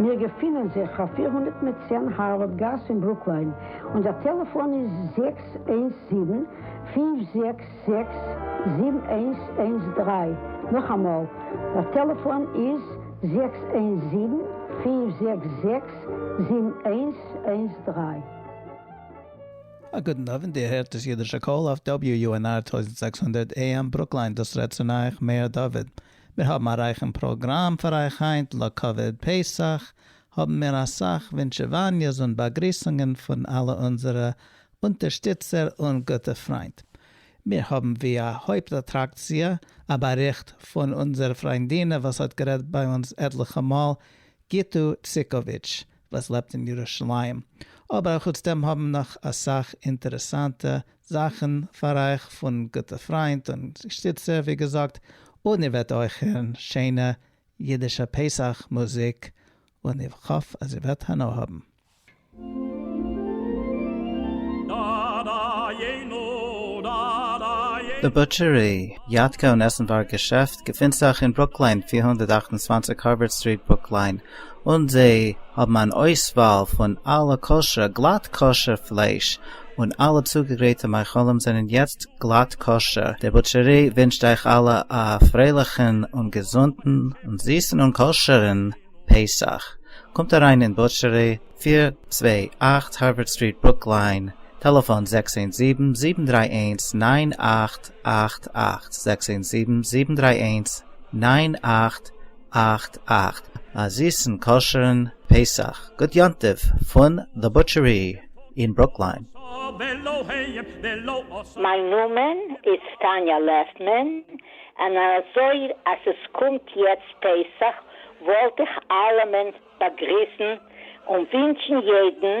מיר געפינען זיך אויף פֿיר הונדערט מיט צען הארווארד גאס אין ברוקליין, און דער טעלעפאן איז זעקס איינס זיבן, פֿינף זעקס זעקס, זיבן איינס איינס דרײַ, נאכאמאל, דער טעלעפאן איז זעקס איינס זיבן, פֿינף זעקס זעקס, זיבן איינס איינס דרײַ. א גוטן אווענט, איר הערט דאס אידישע קול אויף WUNR טויזנט זעקס הונדערט AM ברוקליין, דאס רעדט צו נייעך מאיר דוד. מיר האבן א רייכן פראגראם פאר אייך היינט לכבוד פסח האבן מיר אסאך ווינטשעוואניעס און באגריסונגען פון אלע אונזערע אונטערשטיצער און גוטע פריינט. מיר האבן ווי א הויפט אטראקציע א באריכט פון אונזער פריינדינע וואס האט גערעדט ביי אונז עטליכע מאל, גיטו ציקאוויטש, וואס לעבט אין ירושלים, אבער אחוץ דעם האבן מיר נאך אסאך אינטערעסאנטע זאכן פאר אייך פון גוטע פריינט און שטיצער ווי געזאגט, און איר וועט אויך הערן שיינע אידישע פסח מוזיק, און איך האף אז איר וועט הנאה האבן. די בוטשערי, יאטקע און עסנווארג געשעפט געפינט זיך אין ברוקלין פֿיר הונדערט אַכט און צוואַנציק הארווארד סטריט, ברוקלין, און זיי האבן אן אויסוואל פון אלע כשר'ע, גלאט כשר'ע, פלייש, און אלע צוגעגרייטע מאכלים זענען יעצט גלאט כשר'ע. די בוטשערי ווינטשט אייך אלע א פרייליכן און געזונטן און זיסן און כשר'ן פסח. קומט אריין אין בוטשערי, פֿיר צוויי אַכט הארווערד סטריט ברוקליין, טעלעפאן זעקס איינס זיבן, זיבן דריי איינס, נײַן אַכט אַכט אַכט, זעקס איינס זיבן, זיבן דריי איינס, נײַן אַכט אַכט אַכט אַ זיסן כשר'ן פּסח גוט יום טוב פון The Butchery אין ברוקלין. מיין נאמען איז טאניא לעפמען, און אזוי אז עס קומט יעצט פסח וואלט איך אלעמען באגריסן און ווינטשן יעדן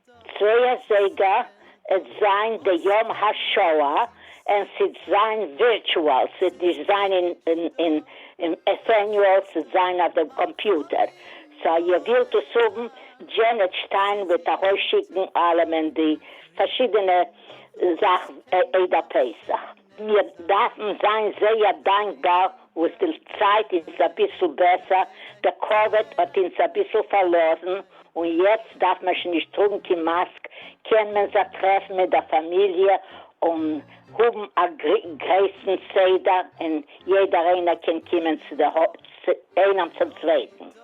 צויי אזייגער עט זיין די יום השואה אין ס'עט זיין ווירטואל ס'עט נישט זיין אין עטעניועל ס'עט זיין אויף דעם קאמפיוטער סא איר ווילט עס האבן דזשענעט שטיין וועט ארויס שיקן אלעמען די פארשידענע זאכן עדה פסח. מיר דארפן זיין זייער דאנקבאר וואס די צייט איז אביסל בעסער, דער קאוויד האט אונז אביסל פארלאזן, און יעצט דארף מען שוין נישט טראגן קיין מאסק, קען מען זיך טרעפן מיט דער פאמיליע און האבן א גרעסן סדר, און יעדער איינער קען קומען צו די הויז איינעם צום צווייטן.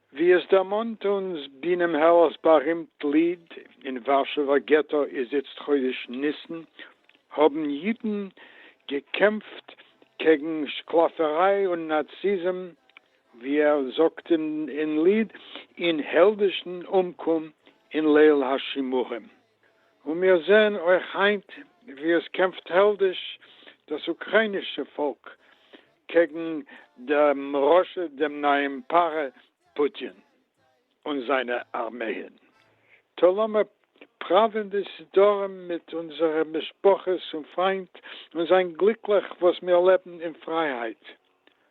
ווי עס דערמאנט אונז בינעם העלער'ס בארימט ליד, אין ווארשעווער געטא איז איצט חודש ניסן, האבן אידן געקעמפט קעגן שקלאפעריי און נאציזם, ווי ער זאגט אין ליד, אין העלדישן אומקום אין ליל השימורים. און מיר זעען אויך היינט ווי עס קעמפט העלדיש דאס אוקריינישע פאלק קעגן דעם רשע דעם נייעם פרא פוטין און זיינע ארמייען, טא לאמיר פראווען די סידורים מיט אונזערע משפחות און פריינט און זיין גליקליך וואס מיר לעבן אין פרייהייט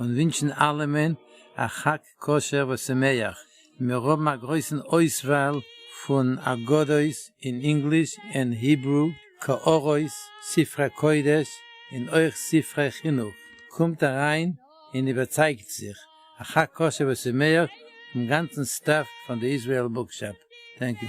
און ווינטשן אלעמען א חג כשר ושמח, מיר האבן א גרויסן אויסוואל פון אגדות אין ענגליש ענד היברו, קערות, ספרי קודש און אויך ספרי חינוך, קומט אריין און איבערצייגט זיך, א חג כשר ושמח פון גאנצן סטעף פון די איזריעל בוקשאפ. טענק יו.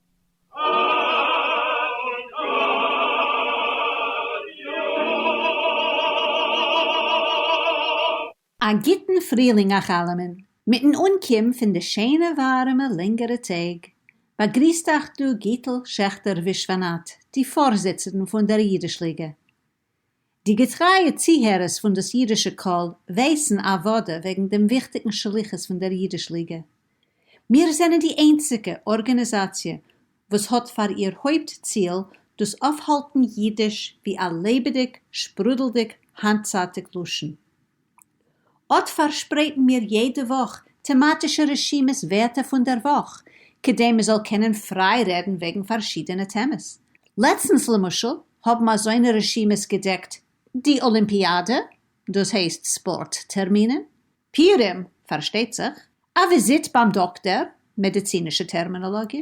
א גוטן פרילינג אייך אלעמען, מיטן אנקום פון די שענע ווארעמע לענגערע טעג, באגריסט אייך דא גיטל שעכטער ווישוואנאט, די פארזיצערן פון דער אידיש ליגע. די געטרייע צוהערערס פון דאס אידישע קול ווייסן אוודא וועגן דעם וויכטיגן שליחות פון דער אידיש ליגע. מיר זענען די איינציגע ארגאניזאציע וואס האט פאר איר הויפט ציל דאס אויפהאלטן אידיש ווי א לעבעדיג, שפרודלדיג, היינטצייטיג לשון. אט פארשפרייטן מיר יעדע וואך טעמאטישע רשימות ווערטער פון דער וואך, כדי מען זאל קענען פריי רעדן וועגן פארשידענע טעמעס. לעצטנס למשל האבן אזוינע רשימות געדעקט די אלימפיאדע, דאס הייסט ספארט טערמינען, פיורים, פארשטייט זיך, א וויזיט ביים דאקטער, מעדיצינישע טערמינאלאגיע,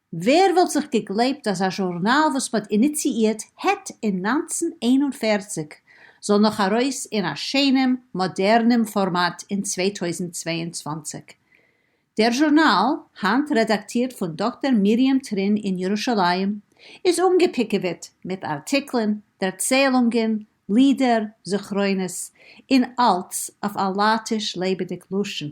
ווער וואלט זיך געגלייבט אז א זשורנאל וואס מען האט איניציאירט העט אין נײַנצן איין און פֿערציק זאל נאך ארויס אין א שענעם מאדערנעם פארמאט אין צוויי טויזנט צוויי און צוואַנציק. דער זשורנאל, היינט רעדאקטירט פון דאקטער מרים טרין אין ירושלים, איז אנגעפיקעוועט מיט ארטיקלען, דערציילונגען, לידער, זכרונות, און אלץ אויף א לייטיש לעבעדיג לשון.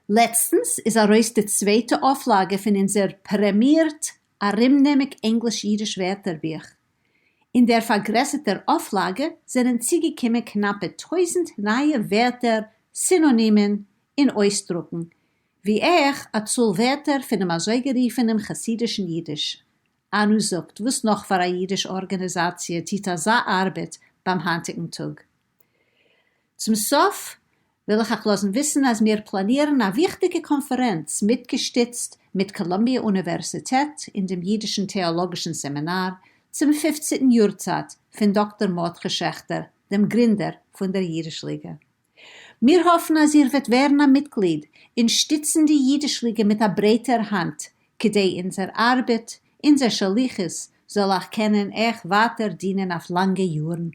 לעצטנס איז ארויס די צווייטע אויפלאגע פון אונזער פרעמיערט ארומנעמיק ענגליש-אידיש ווערטערבוך. אין דער פארגרעסערטער אויפלאגע זענען צוגעקומען קנאפע טויזנט נייע ווערטער, סינאנימען און אויסדרוקן, ווי אויך א צאל ווערטער פונעם אזויגערופענעם חסידישן אידיש. אנו זאגט, וואס נאך פאר א אידיש ארגאניזאציע טוט אזא ארבעט ביים היינטיגן טאג? צום סוף וויל איך אייך לאזן וויסן אז מיר פלאנירן א וויכטיגע קאנפערענץ מיטגעשטיצט מיט קאלומביע אוניווערסיטעט אין דעם אידישן טעאלאגישן סעמינאר צום פופציטן יארצייט פון דאקטאר מרדכי שעכטער דעם גרינדער פון דער אידיש ליגע. מיר האפן אז איר וועט ווערן א מיטגליד און שטיצן די אידיש ליגע מיט א ברייטער האנט כדי אונזער ארבעט, אונזער שליחות, זאל אייך קענען עכפ ווייטער דינען אויף לאנגע יארן.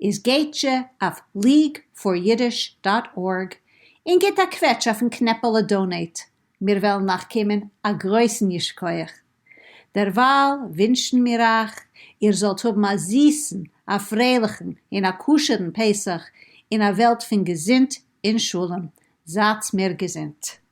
איז גייטזשע אויף ליג פאר אידיש דאט ארג און גיבט א קוועטש אויפן קנעפעלע דאנעיט, מיר וועלן נאך קומען, א גרויסן ייש כח. דערווייל ווינטשן מיר אייך איר זאלט האבן א זיסן, א פרייליכן און א כשר'ן פסח אין א וועלט פון געזונט און שלום, זייטס מיר געזונט.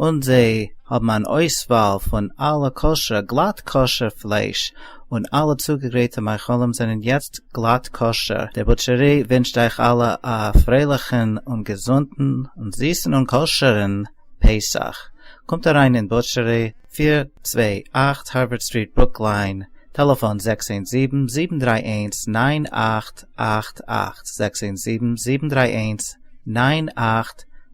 און זיי האבן אן אויסוואל פון אלע כשר, גלאט כשר, פלייש, און אלע צוגעגרייטע מאכלים זענען יעצט גלאט כשר. דער בוטשערי ווינטשט אייך אלע א פרייליכן און געזונטן און זיסן און כשר'ן פסח. קומט אריין אין בוטשערי, פֿיר צוויי אַכט הארווערד סטריט ברוקלין, טעלעפאן זעקס איינס זיבן, זיבן דריי איינס, נײַן אַכט אַכט אַכט, זעקס איינס זיבן, זיבן דריי איינס, נײַן אַכט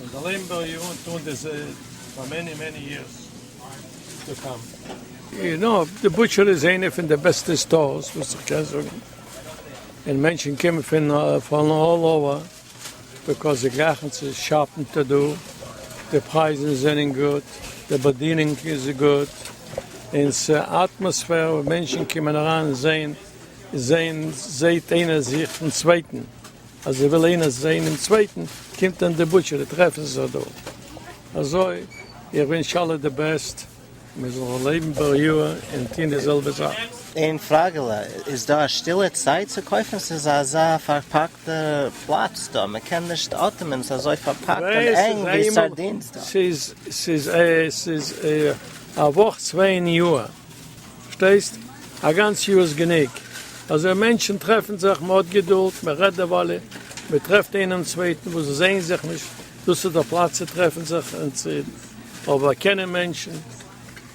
און זאל לעבן בר י און טון די ז פאר מעני מעני יערס טו קאם. און אויב די בוטשער איז איינע פון די בעסטע סטארס וואס איך קען זאגן, און מענטשן קומען פון פון אלל אווער ביקאויז זיי גרייכן צו שאפן טו דא, די פרייזן זענען גוט, די באדינונג איז גוט, און ס'אטמאספער וואו מענטשן קומען אריין זעהן זעהן זעהט איינער זיך פון צווייטן. אז זי וויל איינער זעהן דעם צווייטן קומט אין די בוטשערי טרעפן זיך דא אזוי איך ווינטש אלע די בעסט מען זאל לעבן בריאה און טוהן די זעלבע זאך. איין פראגעלע, איז דא א שטילע צייט צו קויפן? ס'איז אזא פארפאקטע פלאץ דא, מ'קען נישט אטעמען, ס'איז אזוי פארפאקט און ענג ווי סארדינס דא. ס'איז א וואך צוויי אין יאר. פארשטייסט? א גאנץ יאר איז גענוג. אזוי מענטשן טרעפן זיך, מען האט געדולד, מען רעדט דערוואלע, מען טרעפט איינעם צווייטן וואס זיי זעען זיך נישט, דאס איז דער פלאץ צו טרעפן זיך און צו רעדן. אבער קענען מענטשן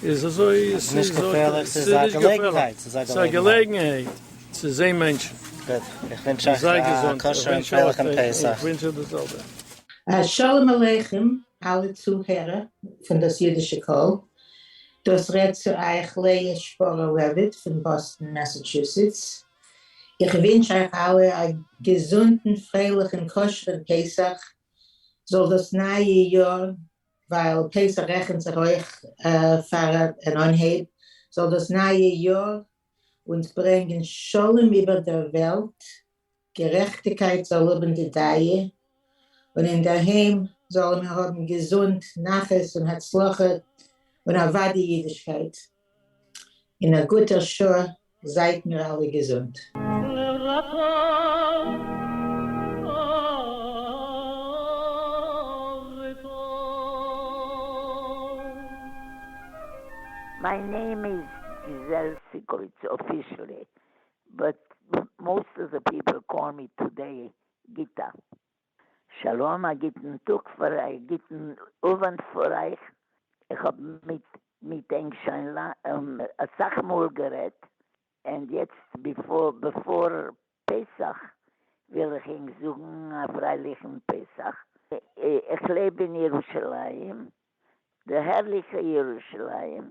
איז אזוי, עס איז געפערליך, עס איז נישט געפערליך, עס איז א געלעגנהייט צו זען מענטשן. גוט, איך ווינטש אייך א כשר'ן פרייליכן פסח. שלום עליכם אלע צוהערער פון דאס אידישע קול. דאס רעדט צו אייך לאה שפארא לעוויט פון באסטן מעסעטשוסעטס, איך ווינטש אייך אלע א געזונטן פרייליכן כשר'ן פסח, זאל דאס נייע יאר, ווייל פסח רעכנט זיך אויך פאר אן אנהייב, זאל דאס נייע יאר אונז ברענגען שלום איבער דער וועלט, גערעכטיקײט זאָל האָבן די דײַע, און אין דער הײם זאָלן מיר האָבן געזונט, נחת און הצלחה, און אַװדאי ייִדישקײט. אין אַ גוטער שעה, זײַט מיר אַלע געזונט. מיי נעים איז גיזעל סיקאוויטץ אפישעלי באט מאסט אוו די פיפעל קאל מי טודעי גיטא. שלום א גוטן טאג פאר א גוטן אווענט פאר אייך, איך האב מיט מיט ענק שוין אסאך מאל גערעדט, ענד יעצט ביפאר פסח וויל איך ענק זאגן א פרייליכן פסח, איך לעב אין ירושלים, די הערליכע ירושלים,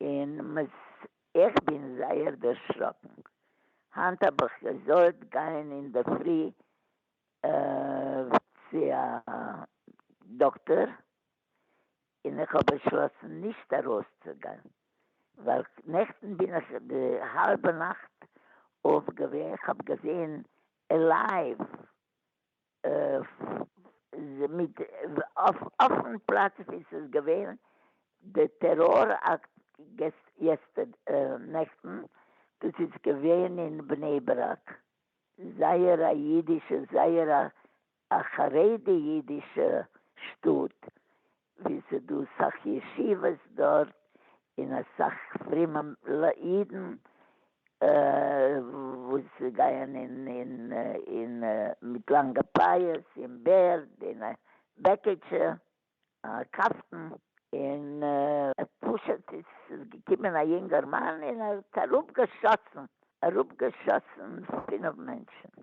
און מ'ס איך בין זייער דערשראקן, היינט האב איך געזאלט גיין אינדערפרי צו א דאקטאר, און איך האב באשלאסן נישט ארויסצוגיין, ווייל נעכטן בין איך די האלבע נאכט אויף געווען, כ'האב געזעהן לייוו מיט אפען פלאץ ווי ס'איז געווען די טעראר אקט נעכטן, דאס איז געווען אין בני ברק, זייער א אידישע זייער א חרדי אידישע שטאט, ווי ס'איז דא סאך ישיבות דארט אין אסאך פרימע אידן וואס גייען אין מיט לאנגע פאות אין בערד אין בעקיטשע קאפטן אין פשוט איז געקומען א יונגערמאן אין ער האט אראפגעשאסן אראפגעשאסן פינעף מענטשן.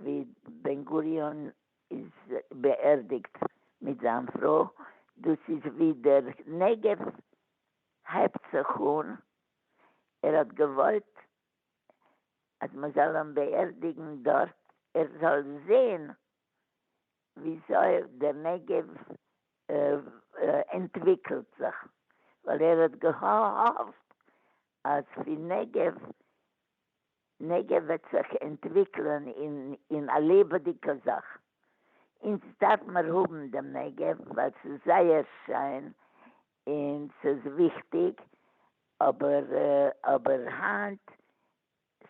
ווי בן גוריון איז באערדיגט מיט זיין פרוי, דאס איז ווי דער נגב הייבט זיך אן, ער האט געוואלט אז מען זאל אים באערדיגן דארט, ער זאל זען וויאזוי דער נגב אנטוויקלט זיך, ווייל ער האט געהאפט אז פון נגב נגע וועט זיך ענטוויקלען אין א לעבעדיגע זאך, אונז דארף מיר האבן דעם נגע ווייל ס'איז זייער שיין און ס'איז וויכטיג, אבער אבער היינט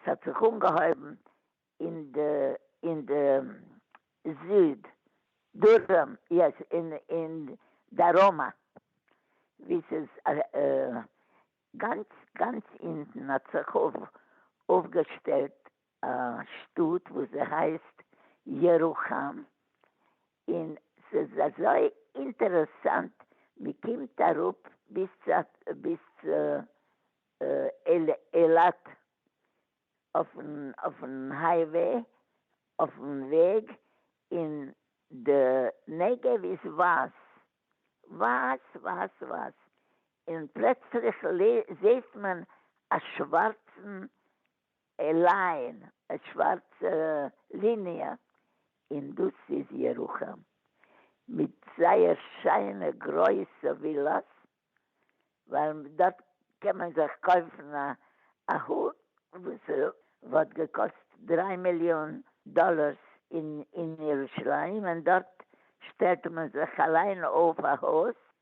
ס'האט זיך אנגעהויבן אין די אין די זיד דרום יעס אין דרומה ווי ס'איז גאנץ גאנץ אינטן האט זיך אויפגעשטעלט א שטאט וואס זי הייסט ירוחם, און ס'איז אזוי אינטערעסאנט, מ'קומט אראפ ביז צו ביז צו אילת אויפן אויפן הייוועי, אויפן וועג, און די נגב איז ווייס, ווייס ווייס ווייס, און פלעצליך זעהט מען א שווארצן ליין, א שווארצע ליניע, און דאס איז ירוחם מיט זייער שיינע גרויסע ווילאס, ווייל דארט קען מען זיך קויפן א הוט וואס וואלט געקאסט דריי מיליאן דאלארס אין ירושלים, און דארט שטעלט מען זיך אליין אויף א הוט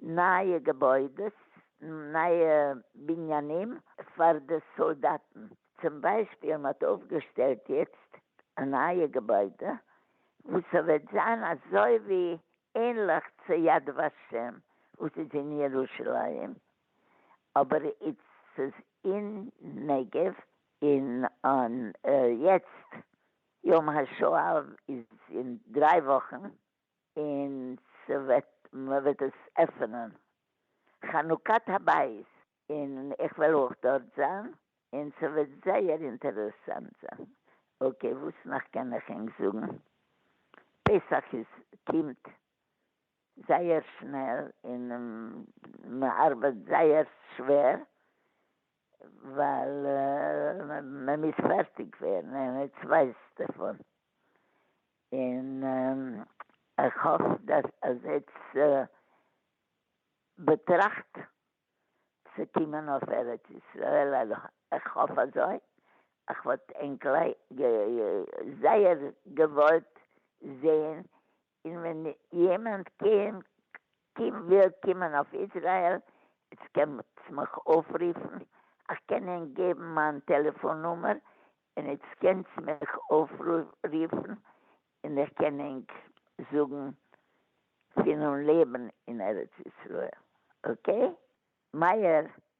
נייע געבוידעס, נייע בנינים פאר די סאלדאטן, צום ביישפיל מ'האט אויפגעשטעלט יעצט א נייע געבוידע וואס ס'וועט זיין אזוי ווי ענליך צו יד ושם וואס איז אין ירושלים אבער איצט ס'איז אין נגב, און יעצט יום השואה איז אין דריי וואכן און ס'וועט מ'וועט עס עפענען חנוכת הבית און איך וועל אויך דארט זיין און ס'וועט זייער אינטערעסאנט זיין. אקעי וואס נאך קען איך ענק זאגן? פסח איז קומט זייער שנעל און מ'ארבייט זייער שווער ווייל מען מוז פארטיג ווערן און עטס ווייסט דערפון, און איך האף דאס אז עטס באטראכט צו קומען אויף ארץ ישראל, איך האף אזוי, איך וואלט ענק זייער געוואלט זעהן און ווען יעמענד קען קום וויל קומען אויף איזרעיל איצט קענסט מיך אויפריפן איך קען ענק געבן מיין טעלעפאן נומער און איצט קענסט מיך אויפריפן און איך קען ענק זאגן פון אן לעבן אין ארץ ישראל אקעי? מאיר,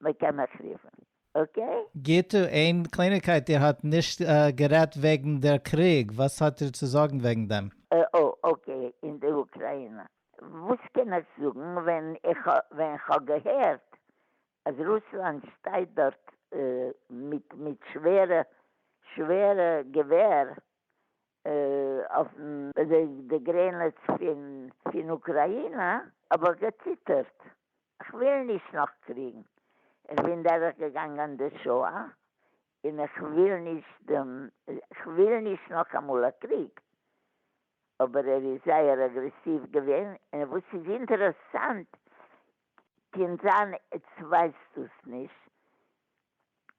מ'קען מיך רופן, אקעי? גיטו, איין קלייניגקייט, איר האט נישט גערעדט וועגן דער קריג, וואס האט איר צו זאגן וועגן דעם? אה, אקעי, אין די אוקריינע, וואס קען איך זאגן ווען כ'האב געהערט אז רוסלאנד שטייט דארט מיט שווערע שווערע געווער אויף די גרענעץ פון אוקריינע, האב איך געציטערט, כ'וויל נישט נאך קריגן, כ'בין דורך געגאנגען די שואה, און כ'וויל נישט דעם, כ'וויל נישט נאכאמאל א קריג, אבער ער איז זייער אגרעסיוו געווען, און וואס איז אינטערעסאנט, קען זיין עטס ווייסט דאס נישט,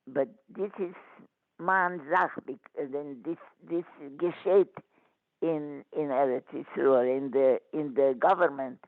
באט דיס איז מיין זאך, דיס געשעהט אין ארץ ישראל, אין די גאווערמענט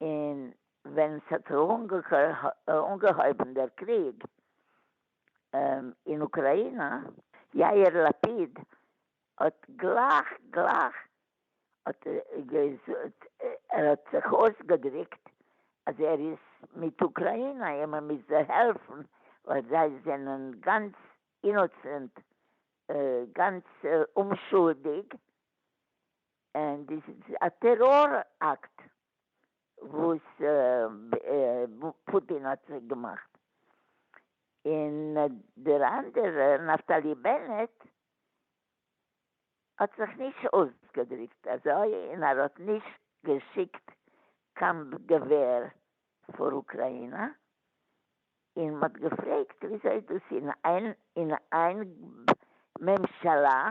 און ווען ס'האט זיך אנגעהויבן דער קריג אין אוקריינא, יאיר לפיד האט גלייך גלייך ער האט זיך אויסגעדריקט אז ער איז מיט אוקריינא און מען מוז זיי העלפן ווייל זיי זענען גאנץ אינאסענט, גאנץ אומשולדיג, און דאס איז א טעראר אקט וואס פוטין האט זיי געמאכט, און דער אנדערער נפתלי בנט האט זיך נישט אויסגעדריקט אזוי און ער האט נישט געשיקט קיין געווער פאר אוקריינא, און מ'האט געפרעגט וויאזוי דאס אין איין ממשלה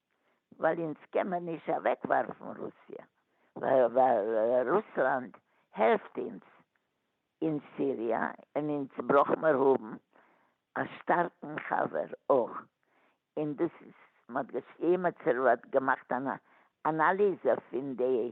ווייל אונז קען מען נישט אוועק ווארפן רוסיא ווייל רוסלאנד העלפט אונז אין סיריע און אונז ברויך מיר האבן א שטארקן חבר אויך און דאס איז מען האט געשריבן מען האט געמאכט אן אנאליז פון די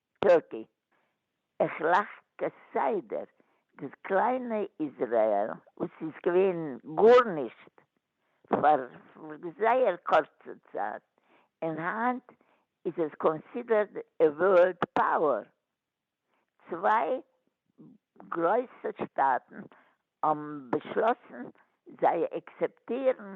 טאקע. איך לאך כסדר. דאס קליינע איזרעאל וואס איז געווען גארנישט פאר זייער קורצע צייט, און היינט איז עס קאנסידערד א ווארלד פאוער. צוויי גרויסע שטאטן האבן באשלאסן זיי עקסעפטירן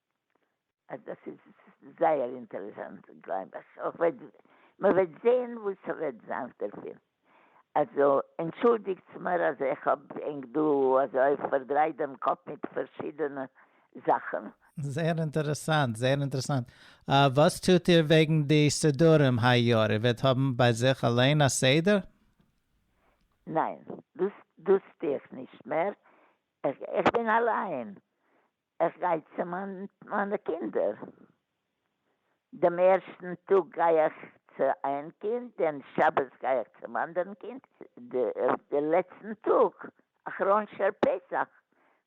אז דאס איז זייער אינטערעסאנט און גלייב אז אויך וועט מען וועט זעהן וואס ס'וועט זיין דערפון. אלזא, ענטשולדיגטס מיר אז איך האב ענק דא אזוי פארדרייט דעם קאפ מיט פארשידענע זאכן. זייער אינטערעסאנט, זייער אינטערעסאנט. וואס טוט איר וועגן די סידורים היי יאר? איר וועט האבן ביי זיך אליין א סדר? ניין, דאס דאס טו איך נישט מער, איך בין אליין איך גיי צו מיינע קינדער, דעם ערשטן טאג גיי איך צו איין קינד, דעם שבת גיי איך צום אנדערן קינד, די לעצטן טאג אחרון של פסח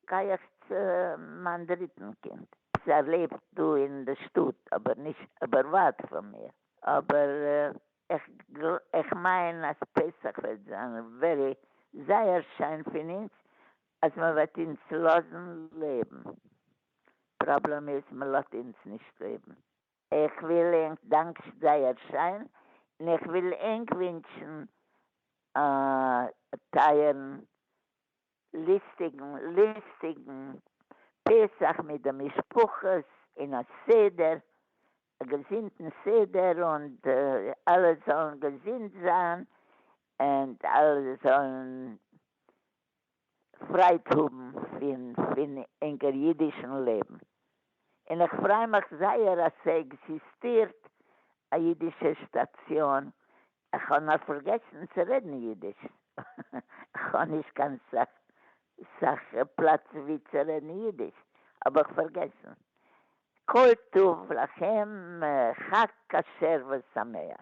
גיי איך צו מיין דריטן קינד, ער לעבט דא אין די שטאט אבער נישט אבער ווייט פון מיר, אבער איך מיין אז פסח וועט זיין ווערי זייער שיין פון אונז אז מען וועט אונז לאזן לעבן. פראבלעם איז מען לאזט אונז נישט לעבן. איך וויל ענק דאנקשן זייער שיין און איך וויל ענק ווינטשן א טייערן ליסטיגן ליסטיגן פסח מיט די משפחות און א סדר א געזונטן סדר און אלע זאלן געזונט זיין און אלע זאלן פרייד האבן פון פון אונגער אידישן לעבן, און איך פריי מיך זייער אז ס'עקזיסטירט א אידישע סטאציאן, איך האב נאר פארגעסן צו רעדן אידיש, איך האב נישט קיין סאך סאך פלאץ ווי צו רעדן אידיש, האב איך פארגעסן, כל טוב לכם, חג כשר ושמח.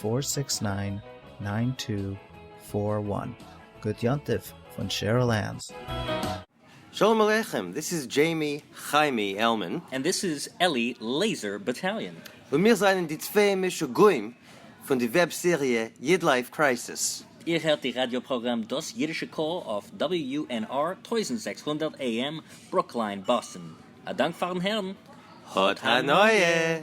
פֿאָר סיקס נײַן נײַן טו פֿאָר װאַן גוט יום טוב פון שעריל ענס. שלום עליכם, דיס איז דזשעימי חיימי עלמען. ענד דיס איז עלי לעיזער באטאליאן. און מיר זענען די צוויי משוגעים פון די וועב סעריע איד לייף קרייסיס. איר הערט די ראדיא פראגראם דאס אידישע קול אויף WUNR טויזנט זעקס הונדערט AM ברוקלין באסטן. א דאנק פארן הערן. האט הנאה!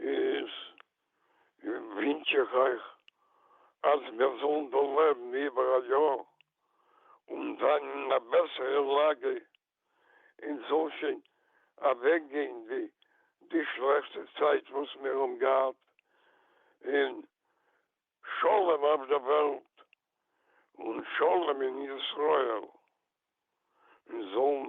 איז ווינטש איך אייך אז מיר זאלן דא לעבן איבער א יאר און זיין אין א בעסערע לאגע און ס'זאל שוין אוועק גיין די די שלעכטע צייט וואס מיר האבן געהאט און שלום אויף די וועלט און שלום אין ישראל און זאלן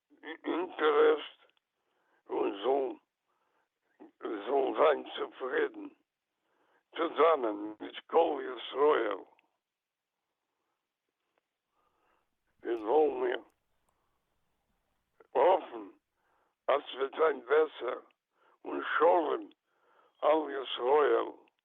די אינטערעסט און זאלן זאלן זיין צופרידן צוזאמען מיט כל ישראל און זאלן מיר האפן אז ס'וועט זיין בעסער און שלום על ישראל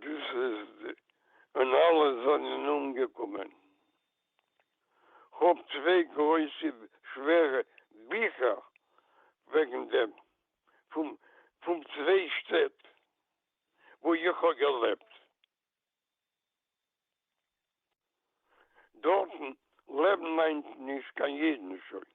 דאס איז די און אלע זענען אומגעקומען. כ'האב צוויי גרויסע שווערע ביכער וועגן דעם פון פון צוויי שטעט וואו איך האב געלעבט. דארטן לעבן היינט נישט קיין אידן שוין.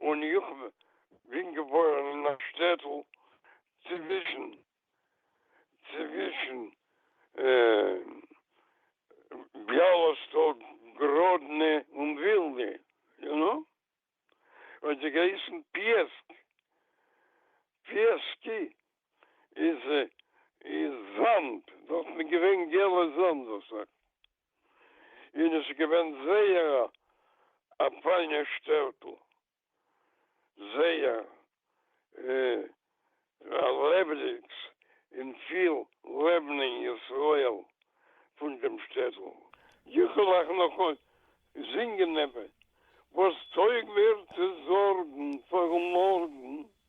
און איך בין געבוירן אין א שטעטל צווישן צווישן ביאלאסטאק, גראדנע און ווילנע, יו נא? האט זי געהייסן פיעסק, פיעסקי איז איז זאמד, דארטן איז געווען געלע זאמד, וואס א. און עס איז געווען זייער א פיינע שטעטל, זייער א לעבעדיגס און פיל לעבן אין ישראל פון דעם שטעטל. יעקל איך נאך אויך זינגען עפעס וואס טויג מיר צו זארגן פארן מארגן.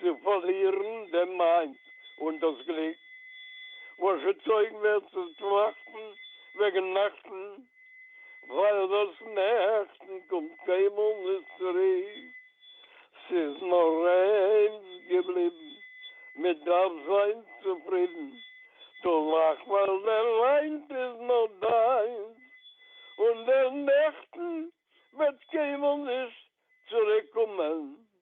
צו פארלירן דעם מיינד און דאס גליק, וואס געצויגן ווערט צו טראכטן וועגן נעכטן, ווייל דאס נעכטן קומט קיינמאל נישט צוריק, ס'איז נאר איינס געבליבן, מען דארף זיין צופרידן, דו לאך ווייל דער היינט איז נאר דיינס, און דער נעכטן וועט קיינמאל נישט צוריק קומען.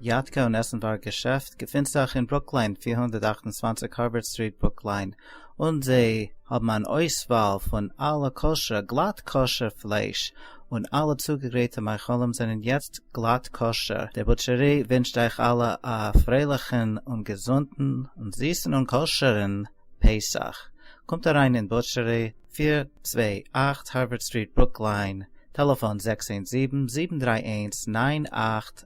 יאטקע און עסן באר געשעפט געפינט זיך אין ברוקליין פֿיר הונדערט אַכט און צוואַנציק הארווערד סטריט ברוקליין און זיי האבן אן אויסוואל פון אלע כשר גלאט כשר פלייש און אלע צוגעגרייטע מאכלים זענען יעצט גלאט כשר דער בוטשערי ווינטשט אייך אלע א פרייליכן און געזונטן און זיסן און כשר'ן פסח קומט אריין אין בוטשערי פֿיר צוויי אַכט הארווערד סטריט ברוקליין טעלעפאן זעקס איינס זיבן זיבן דרײַ איינס נײַן אַכט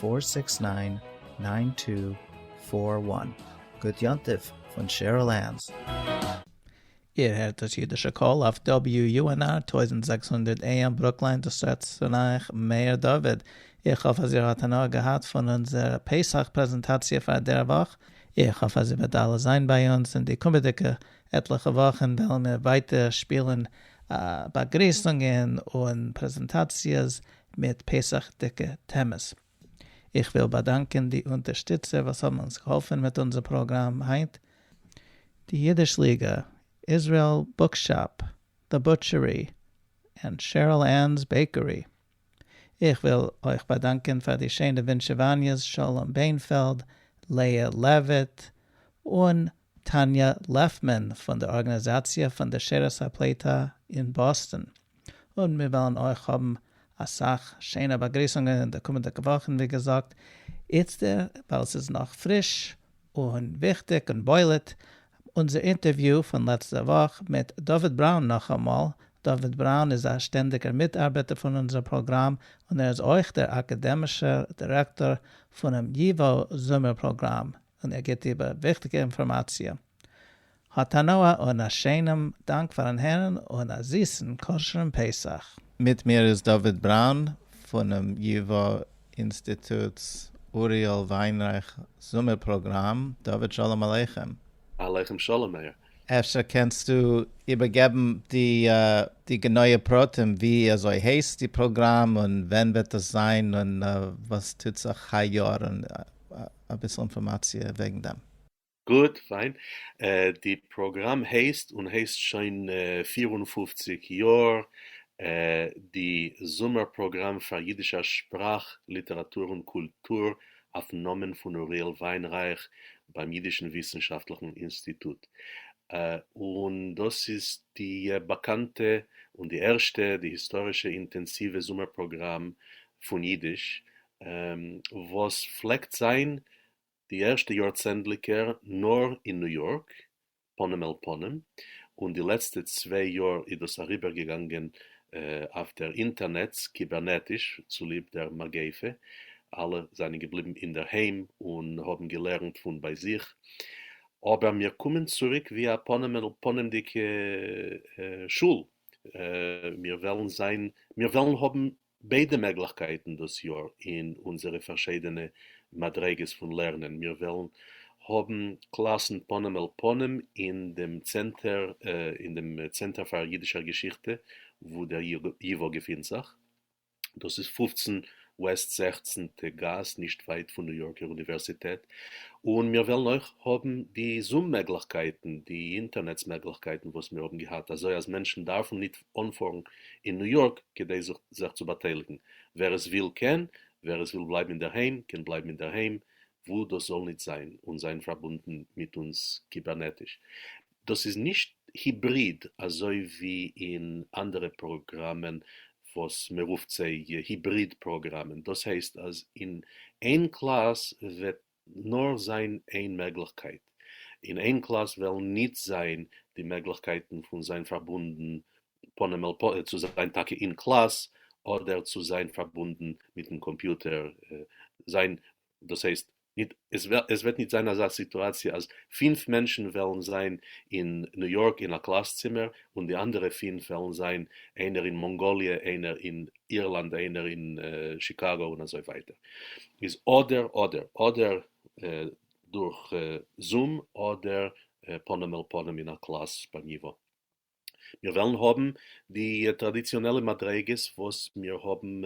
פֿאָר סיקס נײַן נײַן טו פֿאָר װאַן גוט יום טוב פון שעריל ענס. איר הערט דאס אידישע קול אויף WUNR טויזנט זעקס הונדערט AM ברוקליין דאס רעדט צו אייך מאיר דוד. איך האף אז איר האט הנאה געהאט פון אונזער פסח פרעזענטאציע פאר דער וואך. איך האף אז איר וועט אלע זיין ביי אונז אין די קומעדיגע עטליכע וואכן וועלן מיר ווייטער שפילן באגריסונגען און פרעזענטאציעס מיט פסח'דיגע טעמעס. איך וויל באדאנקען די אונטערשטיצער וואס האבן אונז געהאלפן מיט אונזער פראגראם היינט, די אידיש ליגע, איזרעיל בוקשאפ, דע בוטשערי, און שערל ען'ס בעיקערי. איך וויל אויך באדאנקען פאר די שיינע ווינטשעוואניעס שלום בענפעלד, לאה לעוויט, און טאניא לעפמאן פון דער ארגאניזאציע פון דער שערות הפליטה אין באסטאן. און מיר וועלן אויך האבן אסאך שיינע באגריסונגען אין די קומענדיגע וואכן, ווי געזאגט איצטער ווייל עס איז נאך פריש און וויכטיג און בולט, אונזער אינטערוויו פון לעצטע וואך מיט דוד בראון נאכאמאל, דוד בראון איז א שטענדיגער מיטארבעטער פון אונזער פראגראם און ער איז אויך דער אקאדעמישער דירעקטאר פונעם ייווא זומער פראגראם און ער גיבט איבער וויכטיגע אינפארמאציע האט הנאה און א שיינעם דאנק פארן הערן און א זיסן כשר'ן פסח. מיט מיר איז דוד בראון פונעם י ו אינסטיטוט'ס אוריאל וויינרייך זומער פראגראם. דוד שלום עליכם. עליכם שלום מאיר. אפשר קענסטו איבערגעבן די גענויע פרטים ווי אזוי הייסט די פראגראם און ווען וועט דאס זיין און וואס טוט זיך היי יאר און אביסל אינפארמאציע וועגן דעם. גוט, פיין. די פראגראם הייסט און הייסט שוין פֿיר און פֿופֿציק יאר די זומער פראגראם פאר אידישע שפראך, ליטעראטור און קולטור אויפן נאמען פון אוריאל וויינרייך ביים אידישן וויסנשאפטליכן אינסטיטוט. און דאס איז די באקאנטע און די ערשטע, די היסטארישע אינטענסיווע זומער פראגראם פון אידיש וואס פלעגט זיין די ערשטע יאר צענדליגער נאר אין ניו יארק פנים אל פנים, און די לעצטע צוויי יאר איז דאס אריבער געגאנגען אויף דער אינטערנעץ קיבערנעטיש צוליב דער מגיפה, אלע זענען געבליבן אינדערהיים און האבן געלערנט פון ביי זיך, אבער מיר קומען צוריק ווי א פנים אל פנים'דיגע שול, מיר וועלן זיין מיר וועלן האבן ביידע מעגליכקייטן דאס יאר אין אונזערע פארשיידענע מדריגות פון לערנען, מיר וועלן האבן קלאסן פנים אל פנים אין דעם צענטער אין דעם צענטער פאר אידישער געשיכטע וואו דער ייוואו געפינט זיך, דאס איז פֿופֿצן וועסט זעכצנטע גאס נישט ווייט פון ניו יארקער אוניווערסיטעט, און מיר וועלן אויך האבן די זום מעגליכקייטן, די אינטערנעץ מעגליכקייטן וואס מיר האבן געהאט, אזוי אז מענטשן דארפן ניט אנפארן אין ניו יארק כדי זיך זיך צו באטייליגן, ווער עס וויל קען, ווער עס וויל בלייבן אינדערהיים קען בלייבן אינדערהיים, וואו דאס זאל ניט זיין, און זיין פארבונדן מיט אונז קיבערנעטיש. דאס איז נישט היבריד אזוי ווי אין אנדערע פראגראמען וואס מען רופט זיי היבריד פראגראמען, דאס הייסט אז אין איין קלאס וועט נאר זיין איין מעגליכקייט, און אין קלאס וועלן ניט זיין די מעגליכקייטן פון זיין פארבונדן פנים אל פ צו זיין טאקע אין קלאס אדער צו זיין פארבונדן מיטן קאמפיוטער זיין, דאס הייסט ניט עס עס וועט ניט זיין אזא סיטואציע אז פינף מענטשן וועלן זיין אין ניו יארק אין א קלאס צימער און די אנדערע פינף וועלן זיין איינער אין מאנגאליע איינער אין אירלאנד איינער אין שיקאגא און אזוי ווייטער איז אדער אדער אדער דורך זום אדער פנים אל פנים אין א קלאס ביי ניווא. מיר וועלן האבן די טראדיציאנעלע מדריגות וואס מיר האבן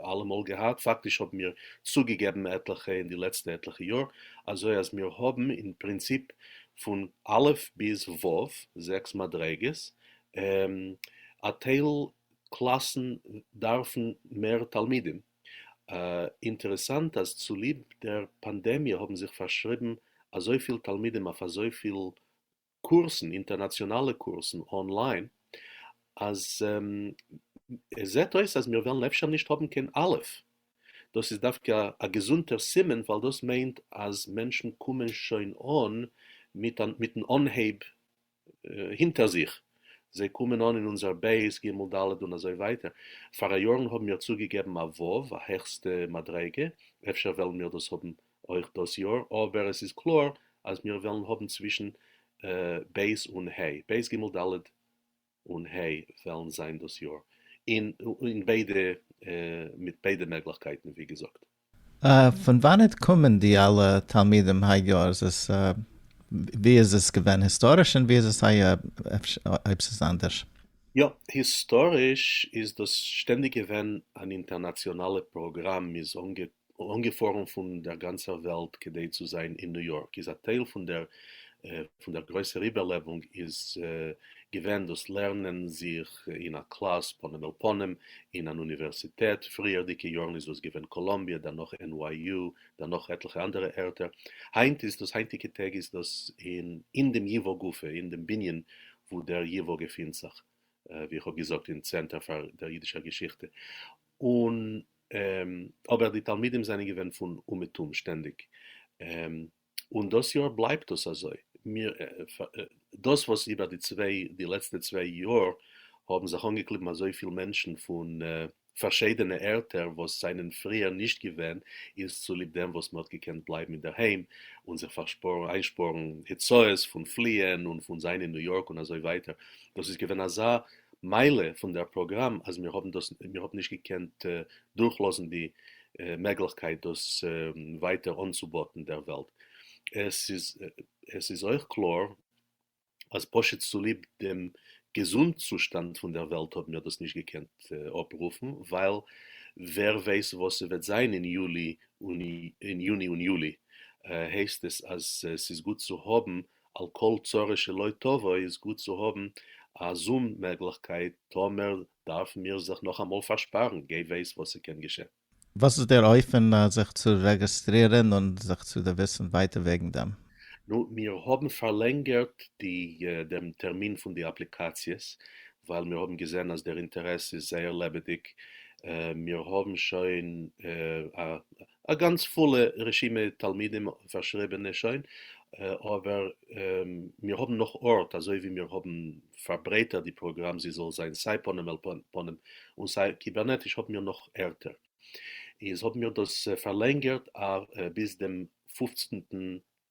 אלעמאל געהאט, פאקטיש האבן מיר צוגעגעבן עטליכע אין די לעצטע עטליכע יאר, אזוי אז מיר האבן אין פרינציפ פון א' ביז ו' זעקס מדריגות, א טייל קלאסן דארפן מער תלמידים, אינטערעסאנט אז צוליב דער פאנדעמיע האבן זיך פארשריבן אזויפיל תלמידים אויף אזויפיל קורסן, אינטערנאציאנאלע קורסן אנליין, אז עס זעט אויס אז מיר וועלן אפשר נישט האבן קיין א', דאס איז דווקא א געזונטער סימן ווייל דאס מיינט אז מענטשן קומען שוין אן מיטן אנהייב הינטער זיך, זיי קומען אן אין אונזער בית, ג' ד' און אזוי ווייטער, פאראיארן האבן מיר צוגעגעבן א ו', א העכסטע מדריגה, אפשר וועלן מיר דאס האבן אויך דאס יאר, אבער עס איז קלאר אז מיר וועלן האבן צווישן ב' און ה', ב' ג' ד' און ה' וועלן זיין דאס יאר, אין ביידע, מיט ביידע מעגליכקייטן ווי געזאגט. פון וואנעט קומען די אלע תלמידים היי יאר? ווי איז עס געווען היסטאריש און ווי איז עס היי אויב ס'איז אנדערש? יא, היסטאריש איז דאס שטענדיג געווען אן אינטערנאציאנאלע פראגראם מ'איז אנגעפארן פון דער גאנצער וועלט כדי צו זיין אין ניו יארק איז א טייל פון דער גרויסער איבערלעבונג איז געווען דאס לערנען זיך אין א קלאס פנים אל פנים אין אן אוניווערסיטעט, פריערדיגע יארן איז דאס געווען קאלאמביע, דערנאך NYU, דערנאך עטליכע אנדערע ערטער, היינט איז דאס, היינטיגע טעג איז דאס אין אין דעם ייוואו גופא, אין דעם בנין וואו דער ייוואו געפינט זיך, ווי איך האב געזאגט אין צענטער פאר דער אידישער געשיכטע, און אבער די תלמידים זענען געווען פון אומעטום שטענדיג, און דאס יאר בלייבט דאס אזוי, מיר דאס וואס איבער די צוויי די לעצטע צוויי יאר האבן זיך אנגעקליבן אזויפיל מענטשן פון פארשיידענע ערטער וואס זענען פריער נישט געווען איז צוליב דעם וואס מען האט געקענט בלייבן אינדערהיים און זיך איינשפארן הוצאות פון פליען און פון זיין אין ניו יארק און אזוי ווייטער, דאס איז געווען אזא מעלה פון דער פראגראם אז מיר האבן דאס מיר האבן נישט געקענט דורכלאזן די מעגליכקייט דאס ווייטער אנצובאטן דער וועלט. עס איז אויך קלאר אז פשוט צוליב דעם געזונט-צושטאנד פון דער וועלט האבן מיר דאס נישט געקענט אפרופן, ווייל ווער ווייס וואס ס'וועט זיין אין יולי און יוני, הייסט עס אז ס'איז גוט צו האבן על כל צרה שלא תבוא איז גוט צו האבן א זום מעגליכקייט טאמער דארפן מיר זיך נאכאמאל פארשפארן, גיי ווייס וואס ס'קען געשען. וואס איז דער אופן זיך צו רעגעסטרירען און זיך צו דערוויסען ווייטער וועגען דעם? נו, מיר האבן פארלענגערט די דעם טערמין פון די אפליקאציעס, ווייל מיר האבן געזען אז דער אינטערעס איז זייער לעבעדיג, מיר האבן שוין א גאנץ פולע רשימה תלמידים פארשריבענע שוין, אבער מיר האבן נאך ארט אזוי ווי מיר האבן פארברייטערט די פראגראם זי זאל זיין סיי פנים אל פנים און סיי קיבערנעטיש האבן מיר נאך ערטער איז האבן מיר דאס פארלענגערט ביז דעם פופצנטן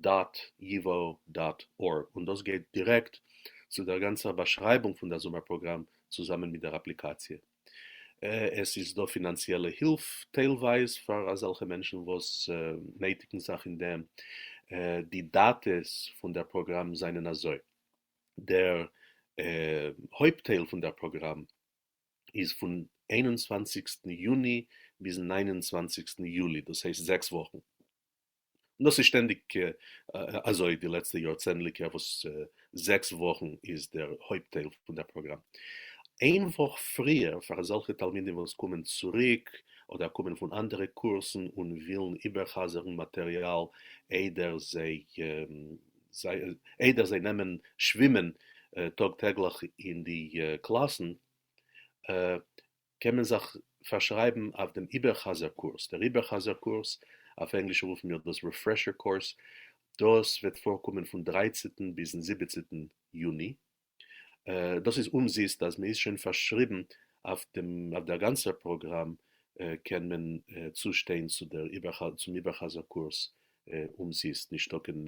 דאט ייוואו דאט ארג און דאס גייט דירעקט צו דער גאנצער באשרייבונג פון דער זומער פראגראם צוזאמען מיט דער אפליקאציע. עס איז דא פינאנציעלע הילף טיילווייז פאר אזעלכע מענטשן וואס נעטיגן זיך אין דעם. די דאטעס פון דער פראגראם זענען אזוי. דער הויפט טייל פון דער פראגראם איז פון איין און צוואנציגסטן יוני ביזן ניין און צוואנציגסטן יולי, דאס הייסט זעקס וואכן. און דאס איז שטענדיג אזוי די לעצטע יאר צענדליגע וואס זעקס וואכן איז דער הויפט טייל פון דער פראגראם איין וואך פריער פאר אזעלכע תלמידים וואס קומען צוריק אדער קומען פון אנדערע קורסן און ווילן איבערחזרן מאטריאל איידער זיי נעמען שווימען טאג טעגליך אין די קלאסן. קען מען זיך פארשרייבן אויף דעם איבערחזר קורס, דער איבערחזר קורס, אויף ענגליש רופן מיר דאס ריפרעשער קורס, דאס וועט פארקומען פון דרייצעטן ביזן זיבעצעטן יוני, דאס איז אומזיסט, אז מען איז שוין פארשריבן אויף דעם אויף דער גאנצער פראגראם קען מען צושטיין צו דער צום איבערחזר קורס אומזיסט, נישטא קיין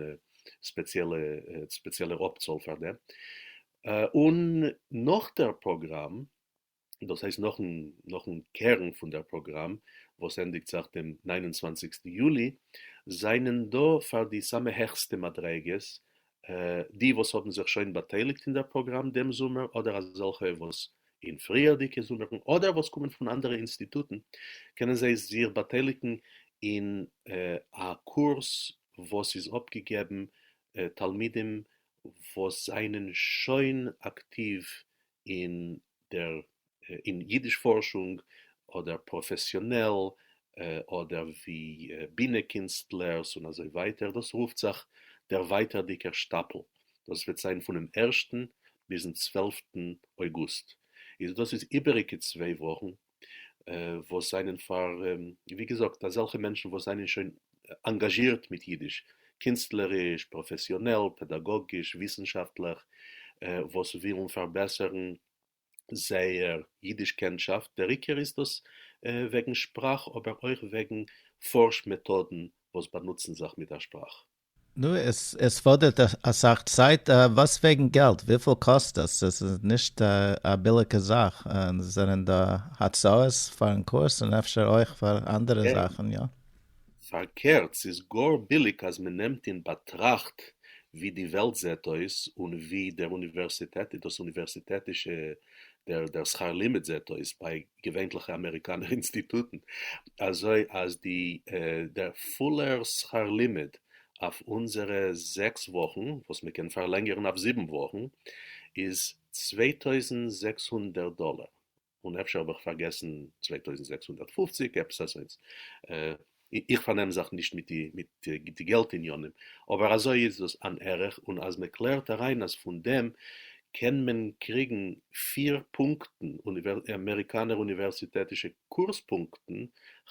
ספעציעלע ספעציעלער אפצאל פאר דעם, און נאך דער פראגראם דאס הייסט נאכן נאכן קערן פון דער פראגראם וואס ענדיגט זיך דעם נײַן און צוואַנציק יולי, זענען דא פאר די סאמע העכסטע מדריגות די וואס האבן זיך שוין באטייליגט אין דער פראגראם דעם זומער אדער אזעלכע וואס אין פריערדיגע זומערן אדער וואס קומען פון אנדערע אינסטיטוטן קענען זיי זיך באטייליגן אין א קורס וואס איז אפגעגעבן תלמידים וואס זענען שוין אקטיוו אין דער אין יידיש פארשונג אדער פראפעסיאנעל אדער ווי בינע קינסטלערס און אזוי ווייטער דאס רופט זיך דער ווייטערדיגער שטאפל דאס וועט זיין פונעם ערשטן ביזן צוועלפטן אויגוסט איז דאס איז איבעריגע צוויי וואכן וואס זענען פאר ווי געזאגט אזעלכע מענטשן וואס זענען שוין אנגאזשירט מיט אידיש, קינסטלעריש, פראפעסיאנעל, פעדאגאגיש, וויסנשאפטליך, וואס ווילן פארבעסערן זייער אידיש קענטשאפט, דער עיקר איז דאס וועגן שפראך אבער אויך וועגן פארש מעטאדן וואס באנוצן זיך מיט דער שפראך. נו, עס פאדערט אסאך צייט, וואס וועגן געלט, וויפיל קאסט עס? עס איז נישט א ביליגע זאך, און עס זענען דא הצעות פארן קורס און אפשר אויך פאר אנדערע זאכן, יא. פארקערט, ס'איז גאר ביליג אז מען נעמט אין באטראכט ווי די וועלט זעט אויס און ווי דער אוניווערסיטעט, דאס אוניווערסיטעטישע, דער שכר לימוד זעט אויס, ביי געווענליכע אמעריקאנער אינסטיטוטן, אזוי אז די דער פולער שכר לימוד אויף אונזערע זעקס וואכן, וואס מען קען פארלענגערן אויף זיבן וואכן, איז צוויי טויזנט זעקס הונדערט דאלער, און אפשר האב איך פארגעסן צוויי טויזנט זעקס הונדערט פֿופֿציק, עפעס אזוינס, איך פארנעם זיך נישט מיט די געלט עניינים, אבער אזוי איז דאס אן ערך, און אז מען קלערט אריין אז פון דעם קען מען קריגן פיר פונקטן אמעריקאנער אוניווערסיטעטישע קורס פונקטן,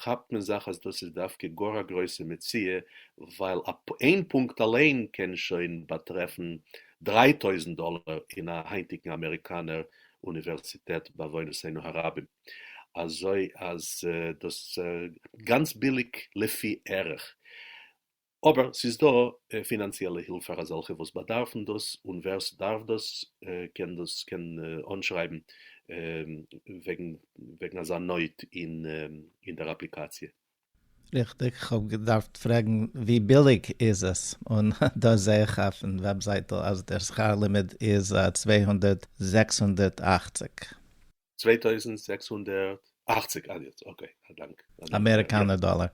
כאפט מען זיך אז דאס איז דווקא גאר א גרויסע מציאה, ווייל איין פונקט אליין קען שוין באטרעפן דריי טויזנט דאלער אין א היינטיגן אמעריקאנער אוניווערסיטעט בעוונותינו הרבים. אזוי אז דאס גאנץ ביליג לפי ערך, אבער ס'איז דא פינאנציעלע הילף פאר אזעלכע וואס באדארפן דאס, און ווער ס'דארף דאס קען דאס קען אנשרייבן וועגן וועגן אזא נויט אין דער אפליקאציע. ריכטיג, כ'האב געדארפט פרעגן ווי ביליג איז עס, און דא זעה איך אויפן וועבזייטל אז דער שכר לימוד איז צוויי הונדערט זעקס הונדערט אַכציק. צוויי טויזנט זעקס הונדערט אַכציק אַן יעצט אקעי א דאנק אמעריקאנער דאלער.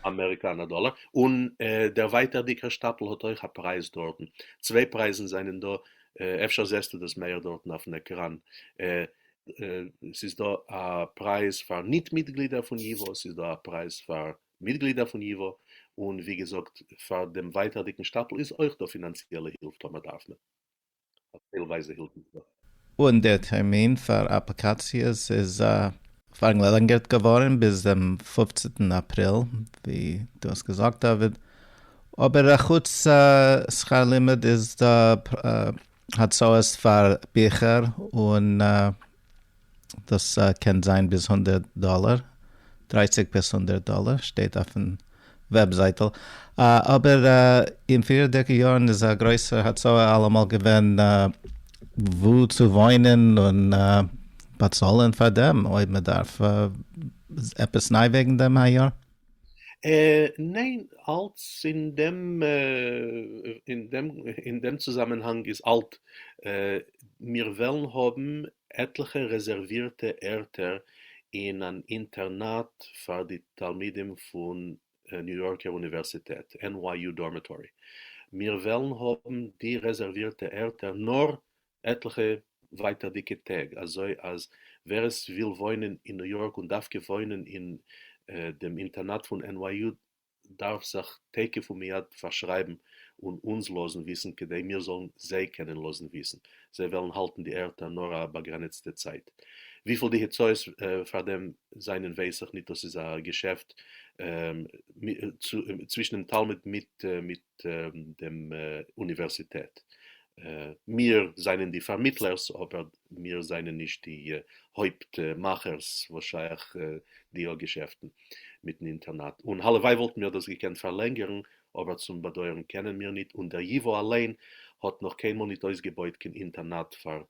אמעריקאנער דאלער, און דער ווייטערדיגער שטאפל האט אויך א פרייז דארטן, צוויי פרייזן זענען דא, אפשר זעסטו דאס מעהר דארטן אויפן עקראן, ס'איז דא א פרייז פאר ניט מיטגלידער פון ייווא, ס'איז דא א פרייז פאר מיטגלידער פון ייווא, און ווי געזאגט פאר דעם ווייטערדיגן שטאפל איז אויך דא פינאנציעלע הילף טאמער דארף מען. אויף טיילווייזע הילפן. און דער טערמין פאר אפליקאציעס איז. פארגלעלענגערט געווארן ביז דעם פופצנטן אפריל, ווי דו האסט געזאגט דוד, אבער אחוץ שכר לימוד איז דא הצעות פאר ביכער און דאס קען זיין ביז הונדערט דאלער, דרייסיג ביז הונדערט דאלער, שטייט אויפן וועבזייטל. אבער אין פריערדיגע יארן איז א גרויסער הצעה אלעמאל געווען וואו צו וואוינען און באצאלען פאר דעם, אויב מען דארף עפעס ניי וועגן דעם היי יאר. אה, ניין, אלץ אין דעם, אין דעם, אין דעם צוזאמענהאנג איז אלט, אה, מיר וועלן האבן עטליכע רעזערווירטע ערטער אין אן אינטערנאט פאר די תלמידים פון ניו יארקער אוניווערסיטעט, NYU Dormitory. מיר וועלן האבן די רעזערווירטע ערטער נאר עטליכע ווייטערדיגע טעג, אזוי אז ווער עס וויל וואוינען אין ניו יארק און דווקא וואוינען אין דעם אינטערנאט פון NYU דארף זיך תיכף ומיד פארשרייבן און אונז לאזן וויסן כדי מיר זאלן זיי קענען לאזן וויסן, זיי וועלן האלטן די ערטער נאר א באגרעניצטע צייט. וויפיל די הוצאות פאר דעם זענען ווייס איך ניט, דאס איז א געשעפט צווישן דעם תלמיד מיט דעם אוניווערסיטעט. מיר זענען די פארמיטלערס אבער מיר זענען נישט די הויפט מאכערס וואס שייך די א געשעפטן מיטן אינטערנעט. און הלוואי וואלטן מיר דאס געקענט פארלענגערן אבער צום באדויערן קענען מיר ניט און דער ייווא אליין האט נאך קיינמאל ניט אויסגעבויט קיין אינטערנעט פאר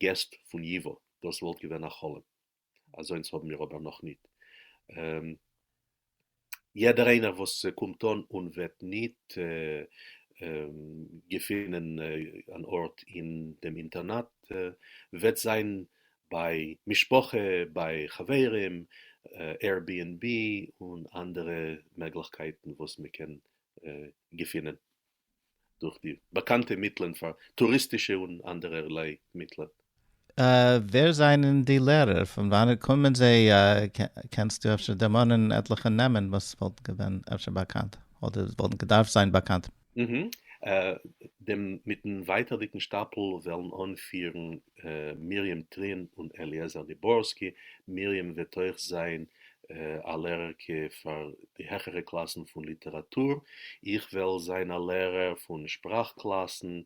געסט פון ייווא דאס וואלט געווען א חלום. אזוינס האבן מיר אבער נאכניט. יעדער איינער וואס קומט אן און וועט ניט געפינען אן ארט אין דעם אינטערנאט, וועט זיין ביי משפחה, ביי חברים, Airbnb און אנדערע מעגליכקייטן וואס מ'קען געפינען. דורך די באקאנטע מיטלען פאר טוריסטישע און אנדערע ערליי מיטלען. ווער זענען די לערער? פון וואנעט קומען זיי? קענסטו אפשר דערמאנען עטליכע נעמען וואס וואלטן געווען אפשר באקאנט אדער וואלטן געדארפט זיין באקאנט? דעם מיטן ווייטערדיגן שטאפל וועלן אנפירן מרים טרין און אליעזר דיבורסקי, מרים וועט אויך זיין א לערער ק פאר די העכערע קלאסן פון ליטעראטור, איך וועל זיין א לערער פון שפראך קלאסן,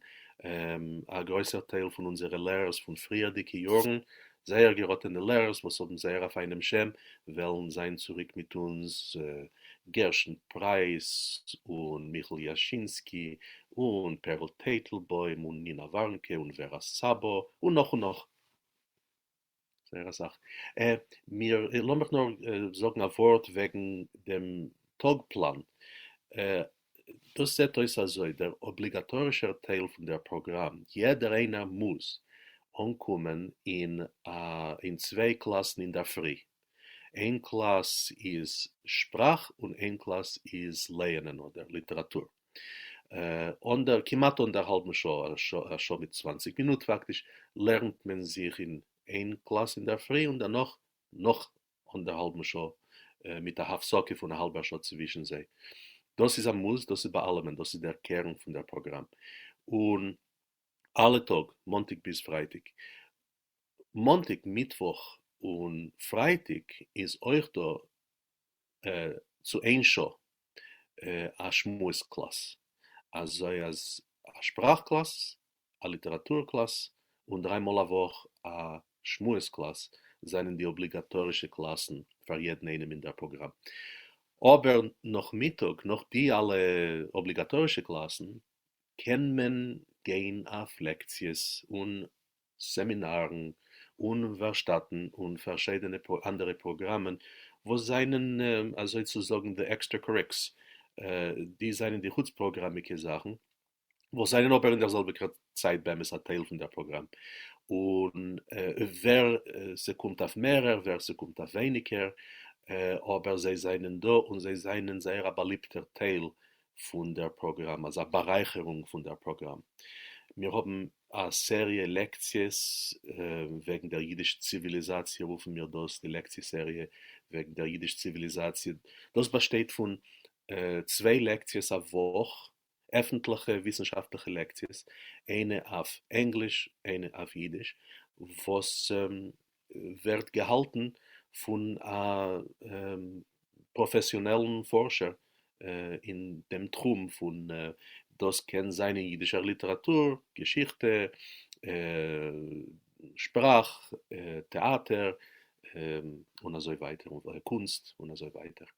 א גרויסער טייל פון אונזערע לערערס פון פריערדיגע יארן, זייער געראטענע לערערס וואס האבן זייער א פיינעם שם, וועלן זיין צוריק מיט אונז, גרשון פרייס און מיכל יאשינסקי און פערל טייטלבוים און נינה ווארנקע און ווערא סאבא און נאך און נאך. זייער אסאך. אה, מיר, לאמיך נאר זאגן א ווארט וועגן דעם טאג פלאן. אה, דאס זעט אויס אזוי, דער אבליגאטארישער טייל פון דער פראגראם, יעדער איינער מוז אנקומען אין א, אין צוויי קלאסן אינדערפרי. איין קלאס איז שפראך און איין קלאס איז לייענען אדער ליטעראטור. און דער כמעט און דער האלבן שעה א שעה א שעה מיט צוואנציג מינוט פאקטיש לערנט מען זיך אין איין קלאס אינדערפרי און דערנאך נאך און דער האלבן שעה מיט א הפסקה פון א האלבער שעה צווישן זיי דאס איז א מוז דאס איז ביי אלעמען דאס איז דער קערן פון דער פראגראם און אלע טאג מאנטאג ביז פרייטאג מאנטאג מיטוואך און פרייטאג איז אויך דא צו איין שעה א שמועס קלאס, אזוי אז א שפראך קלאס, א ליטעראטור קלאס, און דריי מאל א וואך א שמועס קלאס זענען די אבליגאטארישע קלאסן פאר יעדן איינעם אין דער פראגראם. אבער נאכמיטאג, נאך די אלע אבליגאטארישע קלאסן, קען מען גיין אויף לעקציעס און סעמינארן און ווארשטאטן און פארשיידענע אנדערע פראגראמען וואס זענען אזוי צו זאגן די עקסטרע קוריקס, די זענען די חוץ פראגראמיגע זאכן וואס זענען אבער אין דער זעלביגער צייט באמת א טייל פון דער פראגראם, און ווער ס'קומט אויף מערער ווער ס'קומט אויף ווייניגער, אבער זיי זענען דא און זיי זענען זייער א באליבטער טייל פון דער פראגראם, אלס א בארייכערונג פון דער פראגראם. מיר האבן א סעריע לעקציעס וועגן דער יידיש-ציוויליזאציע, רופן מיר דאס די לעקציע-סעריע וועגן דער יידיש-ציוויליזאציע. דאס באשטייט פון צוויי לעקציעס א וואך, עפנטליכע וויסנשאפטליכע לעקציעס, איינע אויף ענגליש, איינע אויף יידיש, וואס ווערט געהאלטן פון א פראפעסיאנעלן פארשער אין דעם תחום פון דאס קען זיין אין אידישער ליטעראטור, געשיכטע, שפראך, טעאטער, און אזוי ווייטער, קונסט, און אזוי ווייטער.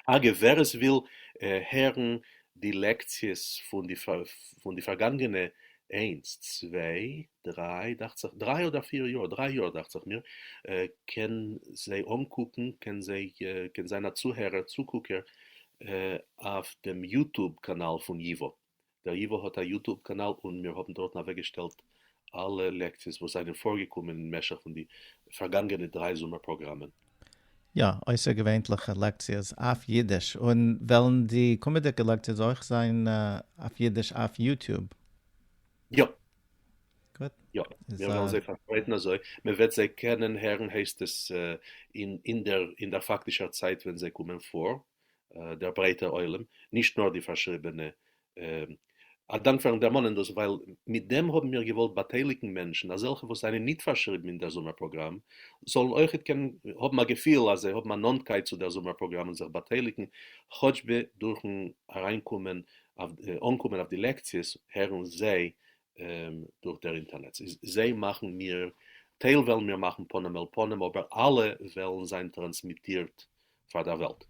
אגב ווער עס וויל הערן די לעקציעס פון די פון די פארגאנגענע איינס צוויי דריי דאכציך דריי אדער פיר יאר דריי יאר דאכציך מיר קען זיי אנקוקן קען זיי קען זיין א צוהערער צוקוקער אויף דעם יוטוב קאנאל פון ייווא. דער ייוואָ האָט אַ יוטוב קאַנאַל און מיר האָבן דאָרטן אַוועקגעשטעלט אַלע לעקציעס וואָס זיינען פאָרגעקומען אין משך פון די פאַרגאַנגענע דריי זומער פּראָגראַמען. יאָ, אויסערגעווענליכע לעקציעס אויף יידיש, און וועלן די קומעדיקע לעקציעס אויך זיין אויף יידיש אויף יוטוב? יאָ. גוט. יאָ, מיר וועלן זיי פאַרשפּרייטן אַזוי מען וועט זיי קענען הערן, הייסט עס, אין דער פאַקטישער צייט ווען זיי קומען פאָר. דער ברייטער עולם, נישט נאר די פארשריבענע. א דאנק פארן דערמאנען דאס, ווייל מיט דעם האבן מיר געוואלט באטייליגן מענטשן, אזעלכע וואס זענען ניט פארשריבן אין דער זומער פראגראם, זאלן אויכעט קענען האבן א געפיל אז זיי האבן א נאנטקייט צו דער זומער פראגראם און זיך באטייליגן, כאטש ב דורכן אריינקומען אויף אנקומען אויף די לעקציעס, הערן זיי דורך דער אינטערנעץ, איז זיי מאכן מיר, טייל וועלן מיר מאכן פנים אל פנים, אבער אלע וועלן זיין טראנסמיטירט פאר דער וועלט.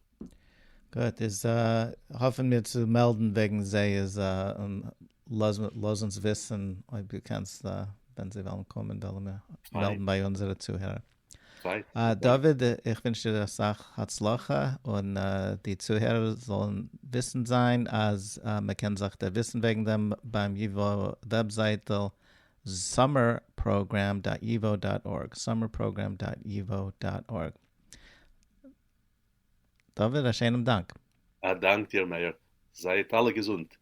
גוט, איז האפן מיר צו מעלדן וועגן זיי איז און לאז אונז וויסן אויב דו קענסט ווען זיי וועלן קומען וועלן מיר מעלדן ביי אונזערע צוהערער. דוד איך ווינטש דיר אסאך הצלחה און די צוהערער זאלן וויסן זיין אז מען קען זיך דערוויסן וועגן דעם ביים ייווא וועבזייטל summerprogram dot yivo dot org summerprogram dot yivo dot org. טובה, א שיינעם דאנק. א דאנק דיר מאיר, זייט אלע געזונט.